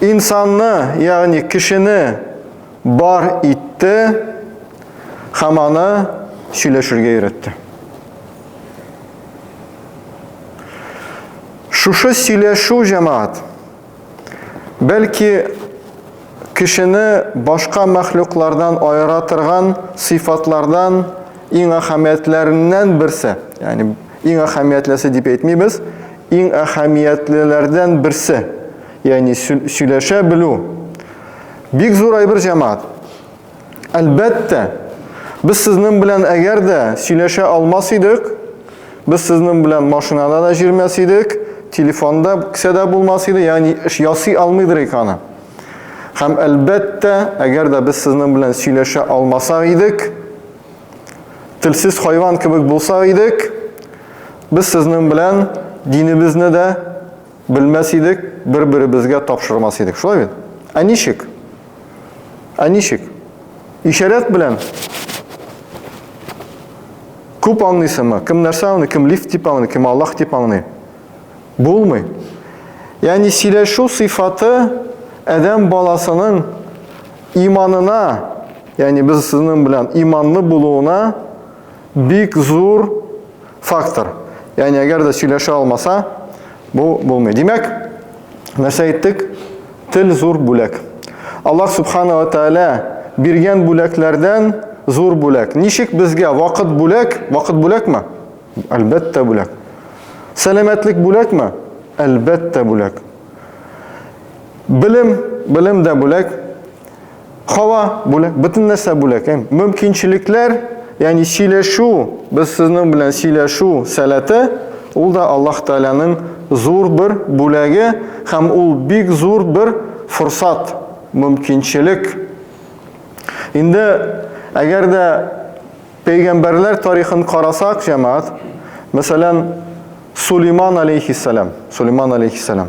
Инсанны, ягъни кешене бар итте һәм аны сөйләшергә өйрәтте. Шушы сөйләшү җәмәгать бәлки Кешене башка мәхлуклардан аера торган сыйфатлардан иң әһәмиятләреннән берсе, ягъни иң әһәмиятлесе дип әйтмибез, иң әһәмиятлеләрдән берсе, ягъни сөйләшә белү. Бик зур әйбер, җәмәгать. Әлбәттә, без сезнең белән әгәр дә сөйләшә алмас идек, без сезнең белән машинада да җирмәс идек, телефонда кесәдә булмас иде, ягъни эш ясый алмыйдыр ик аны. Һәм әлбәттә, әгәр дә без сезнең белән сөйләшә алмасак идек, телсез хайван кебек булсак идек, без сезнең белән динебезне дә Белмәс идек, бер-беребезгә тапшырмас идек. Шулай бит? Ә ничек? Ә ничек? Ишарәт белән күп аңлыйсыңмы? Кем нәрсә аңлый, кем лифт дип аңлый, кем Аллах дип аңлый? Булмый. Ягъни сөйләшү сыйфаты адәм баласының иманына, ягъни без сезнең белән иманлы булуына бик зур фактор. Яни әгәр дә сөйләшә алмаса, бу булмый. Димәк, нәрсә әйттек? Тел зур бүләк. Аллаһ субхана ва тааля биргән бүләкләрдән зур бүләк. Ничек безгә вакыт бүләк? Вакыт бүләкме? Әлбәттә бүләк. Сәламәтлек бүләкме? Әлбәттә бүләк. Белем, белем дә бүләк. Һава бүләк, бөтен нәрсә бүләк. Ә мөмкинчелекләр, ягъни сөйләшү, без сезнең белән сөйләшү сәләте, ул да Аллаһ Тәгаләнең зур бер бүләге һәм ул бик зур бер форсат, мөмкинчелек. Инде әгәр дә пәйгамбәрләр тарихын карасак, җәмәгать, мәсәлән, Сулейман алейхиссалам, Сулейман алейхиссалам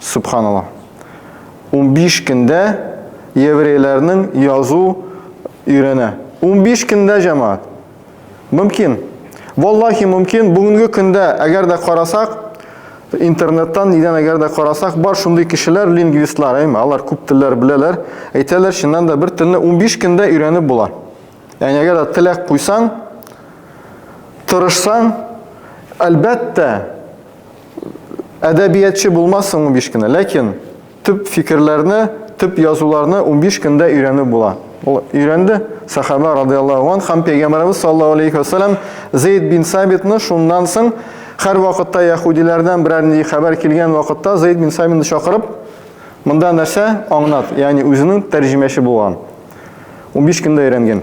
Сөбханалла. Унбиш көндә еврейләрнең язу өйрәнә. Унбиш көндә, җәмәгать. Мөмкин. Валлахи мөмкин. Бүгенге көндә, әгәр дә карасак, интернеттан нидән әгәр дә карасак, бар шундый кешеләр, лингвистлар, әйме, алар күп телләр беләләр, әйтәләр, чыннан да бер телне унбиш көндә өйрәнеп була. Ягъни әгәр дә теләк куйсаң, тырышсаң, әлбәттә, Әдәбиятчы булмассың 15 кенә, ләкин төп фикерләрне, төп язуларны 15 көндә өйрәнү була. Ул өйрәнде сахаба радиаллаһу анһ һәм пәйгамбәребез саллаллаһу алейхи вәсәләм Зейд бин Сабитны шуннан соң һәр вакытта яһудиләрдән берәр нинди хәбәр килгән вакытта Зейд бин Сабитны чакырып монда нәрсә аңнат, ягъни үзенең тәрҗемәче булган. 15 көндә өйрәнгән.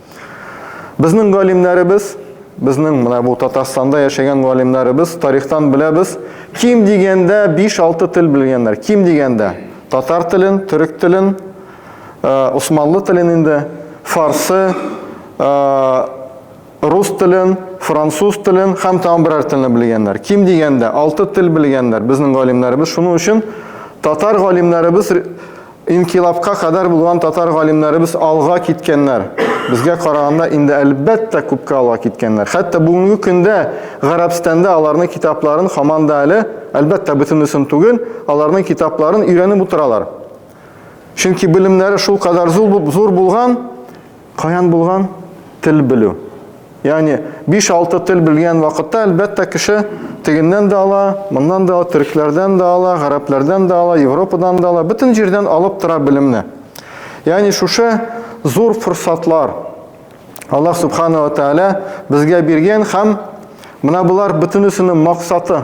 Безнең галимнәребез, безнең менә бу Татарстанда яшәгән галимнәребез тарихтан беләбез, ким дигәндә 5-6 тел белгәннәр. Ким дигәндә татар телен, төрек телен, усманлы э, телен инде, фарсы, э, рус телен, француз телен һәм тагын берәр телне белгәннәр. Ким дигәндә 6 тел белгәннәр безнең галимнәребез. Шуның өчен татар галимнәребез Инкыйлабка кадәр булган татар галимнәребез алга киткәннәр. Безгә караганда инде әлбәттә күпкә алга киткәннәр. Хәтта бүгенге көндә Гарәбстанда аларның китапларын хаман да әле, әлбәттә бөтенесен түгел, аларның китапларын өйрәнеп утыралар. Чөнки белемнәре шул кадәр зур булган, Каян булган? Тел белү. Ягъни 5-6 тел белгән вакытта, әлбәттә, кеше тегеннән дә ала, моннан да ала, төрекләрдән дә ала, гарәпләрдән дә ала, Европадан да ала, бөтен җирдән алып тора белемне. Ягъни шушы зур форсатлар Аллаһ субхана ва тааля безгә биргән һәм менә болар бөтенесенең максаты.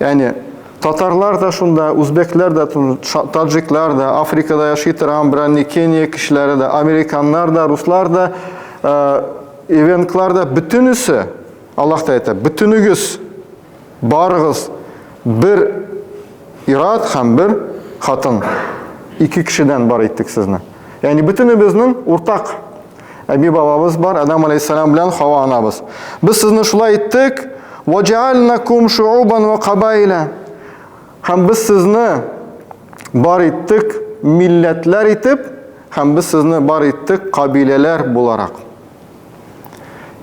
Яни татарлар да шунда, үзбекләр дә, таджиклар да, Африкада яши торган берәр Кения кешеләре дә, американнар да, руслар да, э, ивенклар да бөтенесе Аллаһ та әйтә, бөтенегез барыгыз бер ират һәм бер хатын ике кешедән бар иттек сезне. Яни бөтенебезнең уртак Әби бабабыз бар, Адам алейхиссалам белән Хава анабыз. Без сезне шулай иттек, ваҗаалнакум шуубан ва кабайла. Һәм без сезне бар иттек милләтләр итеп, һәм без сезне бар иттек кабиләләр буларак.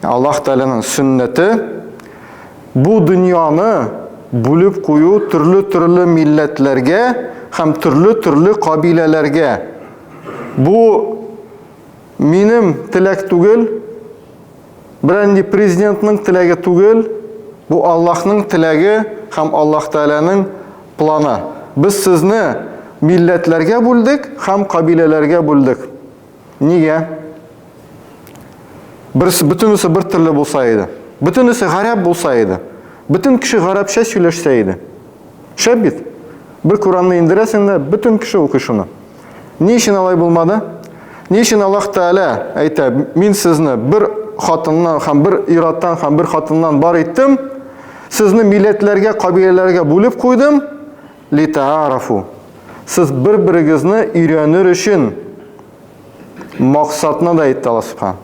Аллаһ Тәгаләнең сөннәте бу дөньяны бүлеп кую төрле-төрле милләтләргә һәм төрле-төрле кабиләләргә. Бу Минем теләк түгел, берәнди президентның теләге түгел, бу Аллаһның теләге һәм Аллаһ Тәгаләнең планы. Без сезне милләтләргә бүлдек һәм кабиләләргә бүлдек. Нигә? Берсе бөтенесе бер төрле булса иде. Бөтенесе гарәп булса иде. Бөтен кеше гарәпчә сөйләшсә иде. Шәп бит. Бер Куранны индерәсең дә, бөтен кеше укый шуны. Ни өчен алай булмады? Ни өчен Аллаһ Тәгалә әйтә, мин сезне бер хатыннан һәм бер ираттан һәм бер хатыннан бар иттем, сезне милләтләргә, кабиләләргә бүлеп куйдым, литаарафу. Сез бер-берегезне өйрәнер өчен максатны да әйтте Аллаһ Субхан.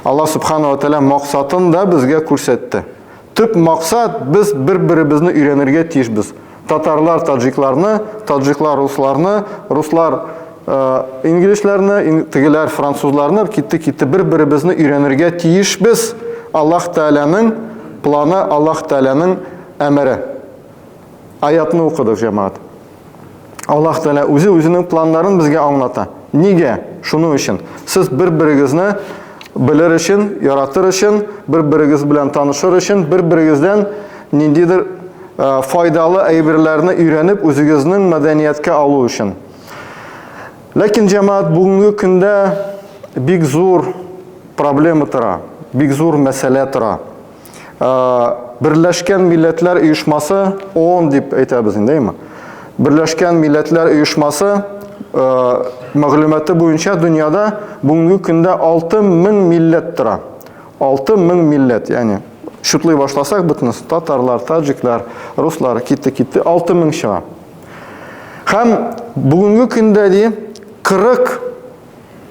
Аллаһ Субханала Тәгалә максатын да безгә күрсәтте. Төп максат, без бер-беребезне өйрәнергә тиешбез. Татарлар таджикларны, таджиклар русларны, руслар инглишләрне, тегеләр французларны, китте китте бер-беребезне өйрәнергә тиешбез. Аллаһ Тәгаләнең планы, Аллаһ Тәгаләнең әмере. Аятны укыдык, җәмаат. Аллаһ Тәгалә үзе үзенең планнарын безгә аңлата. Нигә? Шуның өчен. Сез бер-берегезне белер өчен, яратыр өчен, бер-берегез белән танышыр өчен, бер-берегездән ниндидер файдалы әйберләрне өйрәнеп, үзегезнең мәдәнияткә алу өчен. Ләкин җәмаат бүгенге көндә бик зур проблема тора, бик зур мәсьәлә тора. Берләшкән Милләтләр Оешмасы, ООН дип әйтәбез инде, әйме? Берләшкән Милләтләр Оешмасы мәгълүматы буенча дөньяда бүгенге көндә 6000 милләт тора. 6000 милләт, ягъни шутлый башласак бөтенесе, татарлар, таҗиклар, руслар китте китте 6000 чыга. Һәм бүгенге көндә ди 40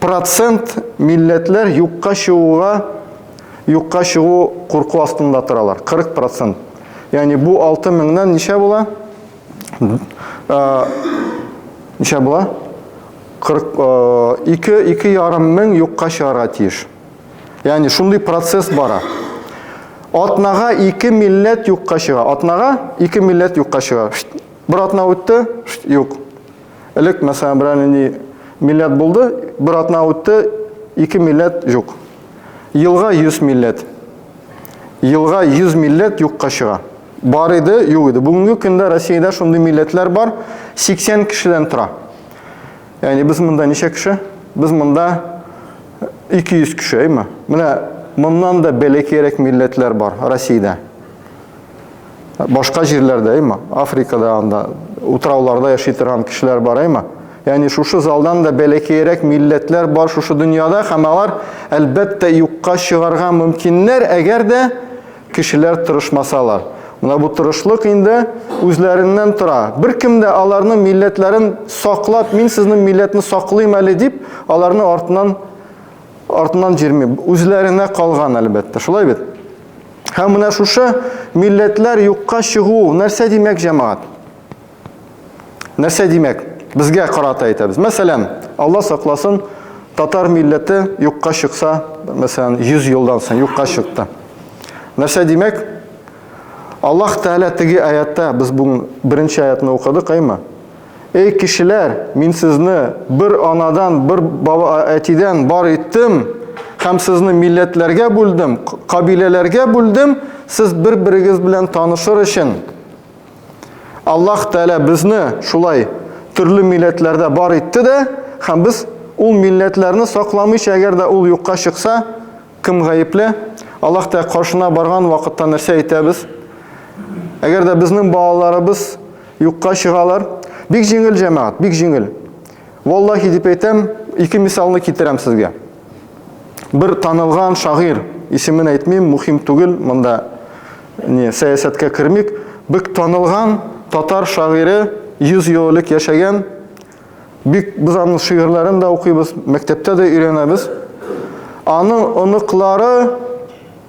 Процент милләтләр юкка чыгуга, юкка чыгу курку астында торалар. 40 процент. Ягъни бу 6 меңнән ничә була? Ничә була? 42 ике ярым мең юкка чыгарга тиеш. Ягъни шундый процесс бара. Атнага ике милләт юкка чыга. Атнага ике милләт юкка чыга. Бер атна үтте, юк. Элек, мәсәлән, берәр нинди милләт булды, бер атна үтте, ике милләт юк. Елга 100 милләт. Елга 100 милләт юкка чыга. Бар иде, юк иде. Бүгенге көндә Россиядә шундый милләтләр бар, 80 кешедән тора. Ягъни без монда ничә кеше? Без монда 200 кеше, әйме? Менә моннан да бәләкәйрәк милләтләр бар Россиядә. Башка җирләрдә, әйма, Африкада анда утрауларда яши торган кешеләр бар, әйма. Ягъни шушы залдан да бәләкәерәк милләтләр бар шушы дөньяда һәм алар әлбәттә юкка чыгарга мөмкиннәр, әгәр дә кешеләр тырышмасалар. Менә бу тырышлык инде үзләреннән тора. Беркем дә аларның милләтләрен саклап, мин сезнең милләтне саклыйм әле дип, аларны артыннан артыннан җирми. Үзләренә калган әлбәттә. Шулай бит? Һәм менә шушы милләтләр юкка чыгу нәрсә димәк, җәмәгать? Нәрсә димәк? Безгә карата әйтәбез. Мәсәлән, Алла сакласын, татар милләте юкка чыкса, мәсәлән, 100 елдан соң юкка чыкты. Нәрсә димәк? Аллаһ Тәгалә теге аятта, без бүген беренче аятны укыдык, әйме? Эй кешеләр, мин сезне бер анадан, бер баба, әтидән бар иттем, һәм сезне милләтләргә бүлдем, кабиләләргә бүлдем, сез бер-берегез белән танышыр өчен. Аллаһ Тәгалә безне шулай төрле милләтләрдә бар итте дә, һәм без ул милләтләрне сакламыйча, әгәр дә ул юкка чыкса, кем гаепле? Аллаһ Тәгалә каршына барган вакытта нәрсә әйтәбез? Әгәр дә безнең балаларыбыз Юкка чыгалар. Бик җиңел, җәмәгать, бик җиңел. Валлахи дип әйтәм, ике мисалны китерәм сезгә. Бер танылган шагыйрь, исемен әйтмим, мухим түгел, монда не сәясәткә кермик, бик танылган татар шагыйре 100 ел элек яшәгән. Бик без аның шигырьләрен дә укыйбыз, мәктәптә дә өйрәнәбез. Аның оныклары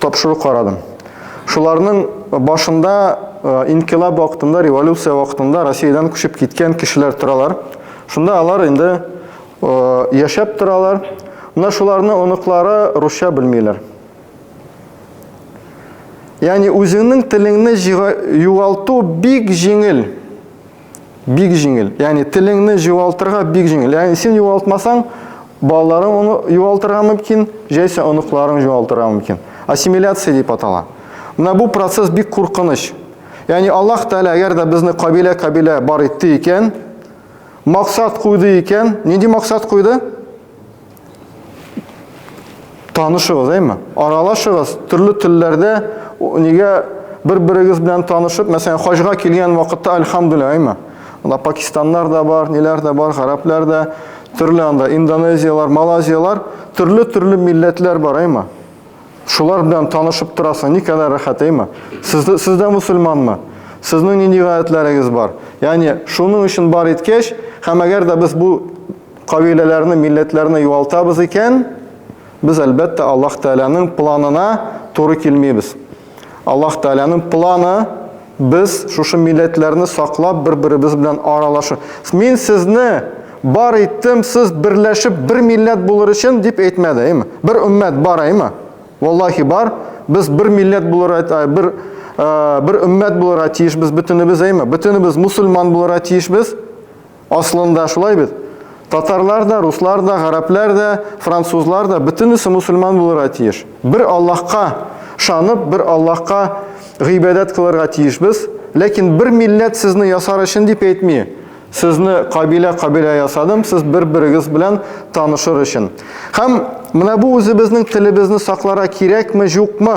тапшыру карадым. Шуларның башында инкилаб вакытында, революция вакытында Россиядән күчеп киткән кешеләр торалар. Шунда алар инде яшәп торалар. Менә шуларны оныклары русча белмиләр. Ягъни үзеңнең телеңне югалту бик җиңел. Бик җиңел. Ягъни телеңне югалтырга бик җиңел. Ягъни син югалтмасаң, балаларың оны югалтырга мөмкин, җәйсә оныкларың югалтырга мөмкин. Ассимиляция дип атала. Менә бу процесс бик куркыныч. Ягъни Аллаһ Тәгалә әгәр дә безне кабилә-кабилә бар итте икән, максат куйды икән, нинди максат куйды? Танышыгыз, әйме? Аралашыгыз, төрле телләрдә нигә бер-берегез белән танышып, мәсәлән, хаҗга килгән вакытта альхамдулилла, әйме? Анда пакистаннар да бар, ниләр дә бар, гарәпләр дә, төрле анда индонезиялар, малазиялар, төрле-төрле милләтләр бар, әйме? Шулар белән танышып торасың, ни кадәр рәхәт, әйме? Сез дә, сез дә мусульманмы? Сезнең нинди гадәтләрегез бар? Ягъни, шуның өчен бар иткәч, һәм әгәр дә без бу кабиләләрне, милләтләрне югалтабыз икән, без әлбәттә Аллаһ Тәгаләнең планына туры килмибез. Аллаһ Тәгаләнең планы без шушы милләтләрне саклап бер-беребез белән аралашу. Мин сезне бар иттем, сез берләшеп бер милләт булыр өчен дип әйтмәде, әйме? Бер өммәт бар, әйме? Валлахи бар. Без бер милләт булыр, э, бер э, бер өммәт булырга тиешбез бөтенебез, әйме? Бөтенебез мусульман булырга тиешбез. Аслында шулай бит. Татарлар да, руслар да, гарәпләр дә, французлар да бөтенесе мусульман булырга тиеш. Бер Аллаһка шанып, бер Аллаһка гыйбадәт кылырга тиешбез. Ләкин бер милләт сезне ясар өчен дип әйтми. Сезне кабилә кабилә ясадым, сез бер-берегез белән танышыр өчен. Һәм менә бу үзебезнең телебезне саклара кирәкме, юкмы?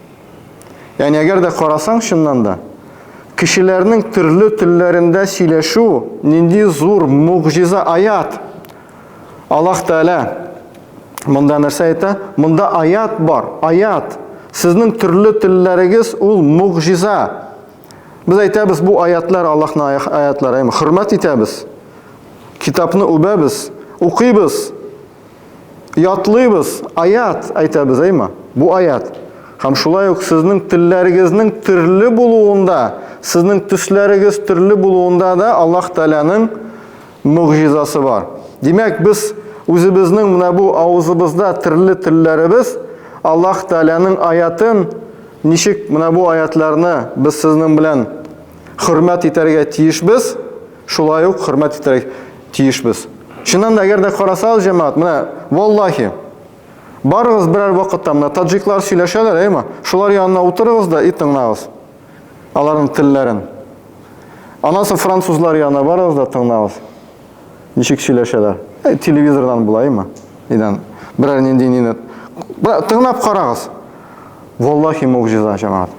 Яни әгәр дә карасаң чыннан да, кешеләрнең төрле телләрендә сөйләшү нинди зур мугъҗиза аят. Аллаһ Тәгалә монда нәрсә әйтә? Монда аят бар, аят. Сезнең төрле телләрегез ул мугъҗиза. Без әйтәбез, бу аятлар Аллаһның аятлары, хөрмәт итәбез. Китапны үбәбез, укыйбыз. ятлыйбыз, аят әйтәбез, әйме? Бу аят. Һәм шулай ук сезнең телләрегезнең төрле булуында, сезнең төсләрегез төрле булуында да Аллаһ Тәгаләнең мөгъҗизасы бар. Димәк, без үзебезнең менә бу авызыбызда төрле телләребез Аллаһ Тәгаләнең аятын ничек менә бу аятларны без сезнең белән хөрмәт итәргә тиешбез, Шулай ук хөрмәт итәргә тиешбез. Чыннан да, әгәр дә карасагыз, җәмәгать, менә, валлахи, барыгыз берәр вакытта менә таджиклар сөйләшәләр, әйме? Шулар янына утырыгыз да и тыңлагыз аларның телләрен. Аннан соң французлар янына барыгыз да тыңлагыз. Ничек сөйләшәләр? Э, телевизордан була, әйме? Идән берәр нинди нине тыңлап карагыз. Валлахи, могҗиза, җәмәгать.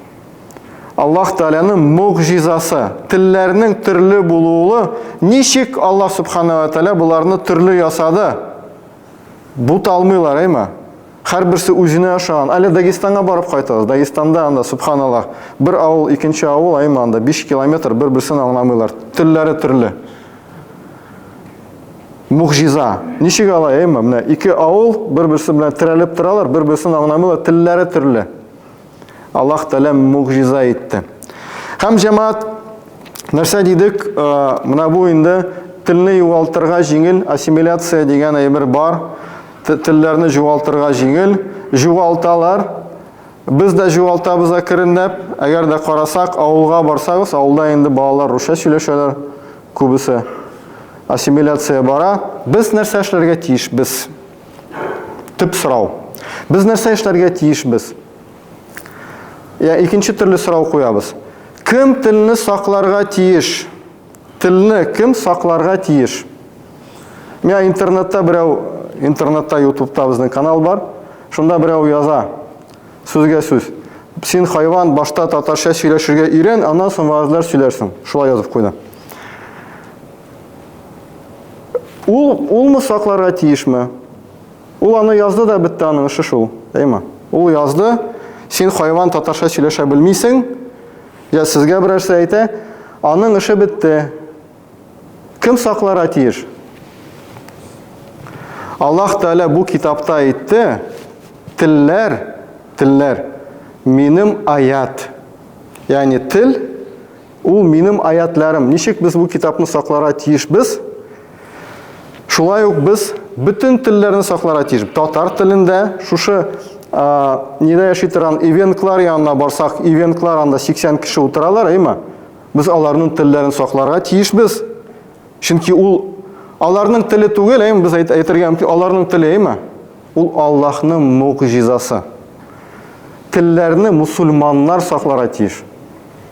Аллаһ Тәгаләнең мугъҗизасы, телләрнең төрле булуы, ничек Аллаһ Субханаһу ва Тәгалә боларны төрле ясады? Бу талмыйлар, әйме? Хәр берсе үзенә ошаган. Әле Дагестанга барып кайтабыз. Дагестанда анда субханаллаһ, бер авыл, икенче авыл, әйме анда 5 километр бер-берсен аңламыйлар. Телләре төрле. Мугъҗиза. Ничек алай, әйме? Менә ике авыл бер-берсе белән терәлеп торалар, бер-берсен аңламыйлар, телләре төрле. Аллаһ Тәгалә мугъҗиза итте. Һәм җәмаат нәрсә дидек, менә бу инде телне югалтырга җиңел, ассимиляция дигән әйбер бар. Телләрне югалтырга җиңел, югалталар. Без дә югалтабыз әкренләп. Әгәр дә карасак, авылга барсагыз, авылда инде балалар русча сөйләшәләр күбесе. Ассимиляция бара. Без нәрсә эшләргә тиеш? Без Төп сорау. Без нәрсә эшләргә тиешбез? Я икенче төрле сорау куябыз. Кем телне сакларга тиеш? Телне кем сакларга тиеш? Менә интернетта берәү, интернетта, ютубта безнең канал бар. Шунда берәү яза. Сүзгә сүз. Син хайван, башта татарча сөйләшергә өйрән, аннан соң вәгазьләр сөйләрсең. Шулай язып куйды. Ул, улмы сакларга тиешме? Ул аны язды да бетте аның эше шул, әйме? Ул язды, син хайван татарча сөйләшә белмисең, я сезгә берәрсе әйтә, аның эше бетте. Кем сакларга тиеш? Аллаһ Тәгалә бу китапта әйтте, телләр, телләр минем аят. Ягъни тел Ул минем аятләрем. Ничек без бу китапны сакларга тиешбез? Шулай ук без бөтен телләрне сакларга тиеш. Татар телендә шушы нидә яши торган ивенклар янына барсак, ивенклар анда 80 кеше утыралар, әйме? Без аларның телләрен сакларга тиешбез. Чөнки ул аларның теле түгел, әйме? Без әйтергә мөмкин, аларның теле, әйме? Ул Аллаһның мугъҗизасы. Телләрне мусульманнар сакларга тиеш.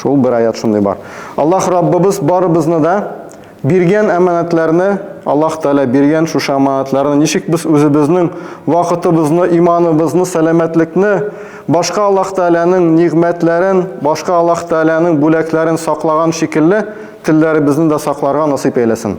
Шул бер аят шундый бар. Аллаһ Раббыбыз барыбызны да биргән әманәтләрне, Аллаһ Тәгалә биргән шушы әманәтләрне ничек без үзебезнең вакытыбызны, иманыбызны, сәламәтлекне, башка Аллаһ Тәгаләнең нигъмәтләрен, башка Аллаһ Тәгаләнең бүләкләрен саклаган шикелле, телләребезне дә сакларга насыйп әйләсен.